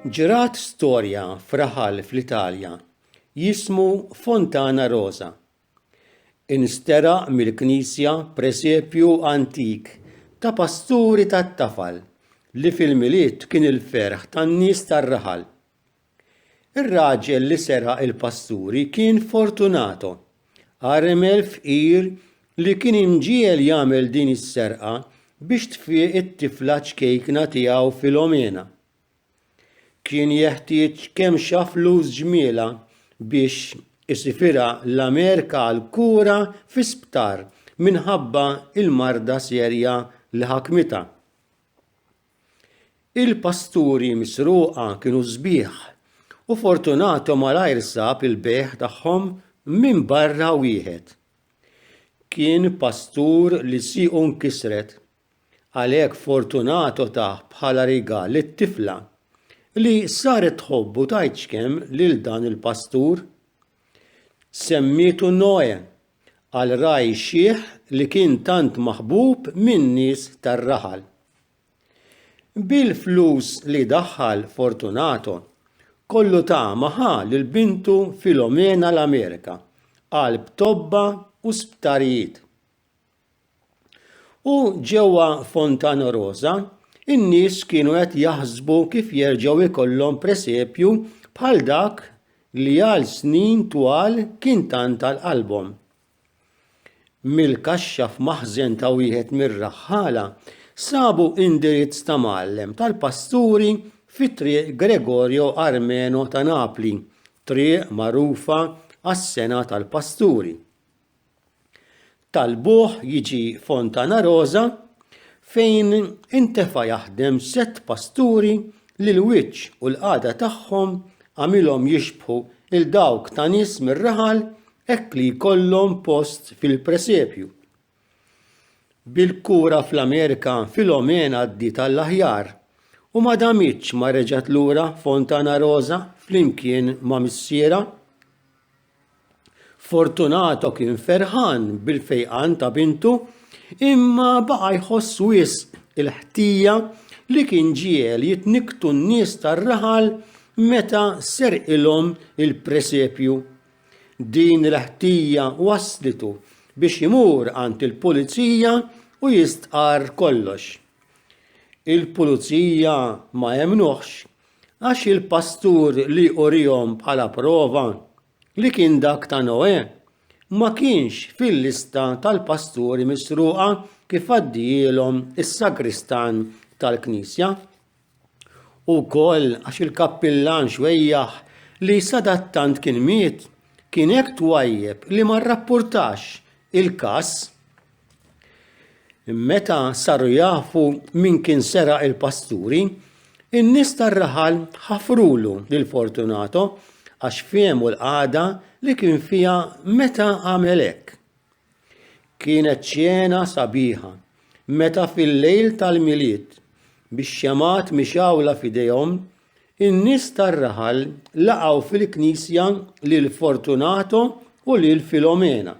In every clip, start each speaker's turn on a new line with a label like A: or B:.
A: Ġrat storja f'raħal fl-Italja jismu Fontana Rosa. Insteraq mill-knisja presepju antik ta' pasturi tat-tafal li fil-Milied kien il-ferħ tan-nies tar-raħal. Ir-raġel li seraq il-pasturi kien Fortunato, għaremel fqir li kien imġiegħel jagħmel din is-serqa biex tfieq it-tifla ċkejkna tiegħu Filomena. Kien jeħtieġ kemm xa flus ġmielha biex isifirha l-Amerika għal kura fi sptar minħabba l-marda serja li ħakmitha. Il-pasturi misruqa kienu sbieħ u Fortunato malajr sab il-bejgħ tagħhom minn barra wieħed. Kien pastur li siequ nkisret, għalhekk Fortunato tah bħala rigal lit-tifla li saret tħobbu tgħid x'kemm lil dan il-pastur. Semmietu Noè għal ragħaj xiħ li kien tant maħbub min-nies tar-raħal. Bil-flus li daħħal Fortunato, kollu tama ħa lil bintu Filomena l-Amerika, qalb tobba u sptarijiet. U ġewwa Fontana Rosa, in-nies kienu qed jaħsbu kif jerġgħu jkollhom presepju bħal dak li għal snin twal kien tant għal qalbhom. Mill-kaxxa f'maħżen ta' wieħed mir-raħħala sabu indirizz ta' mgħallem tal-pasturi fi Triq Gregorio Armeno ta' Napli, triq magħrufa għas-sengħa tal-pasturi. Talbuh jiġi Fontanarosa fejn intefa' jaħdem sett pasturi li l-wiċċ u l-qagħda tagħhom għamilhom jixbħu 'l dawk ta' nies mir-raħal hekk li jkollhom post fil-presepju. Bil-kura fl-Amerika Filomena għaddiet għall-aħjar u ma damitx ma reġgħet lura Fontanarosa flimkien ma' missierha. Fortunato kien ferħan bil-fejqan ta' bintu, imma baqa' jħoss wisq il-ħtija li kien ġiegħel jitnikktu n-nies tar-raħal meta serqilhom il-presepju. Din il-ħtija wasslitu biex imur għand il-pulizija u jistqarr kollox. Il-pulizija ma emmnuhx Għax il-pastur li urihom bħala prova li kien dak ta' Noè ma kienx fil-lista tal-pasturi misruqa kif għaddijielhom is-sagristan tal-knisja. U wkoll għax il-kappillan xwejjaħ li sadattant kien miet kien hekk twajjeb li ma rrappurtax il-każ. Meta saru jafu min kien seraq il-pasturi, in-nies tar-raħal ħafrulu lil Fortunato għax fehmu l-qagħda li kien fiha meta għamel hekk. Kienet ċena sabiħa meta fil-lejl tal-Milied bix-xemgħat mixgħula f'idejhom in-nies tar-raħal laqgħu fil-knisja lil Fortunato u lil Filomena.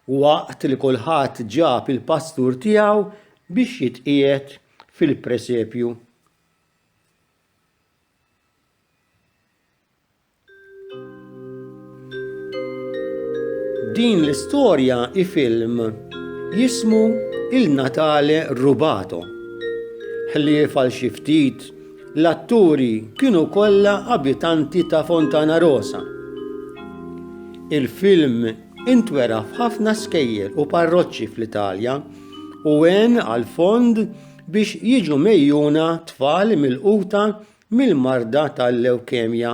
A: Waqt li kulħadd ġab il-pastur tiegħu biex jitqiegħed fil-presepju. Din l-istorja i film jismu Il-Natale Rubato. Ħlief għal xi ftit L-atturi kienu kollha abitanti ta' Fontanarosa. Il-film intwera f'ħafna skejjel u parroċċi fl-Italja u għen għal fond biex jiġu mgħejjuna tfal milquta mill-marda tal-lewkemja.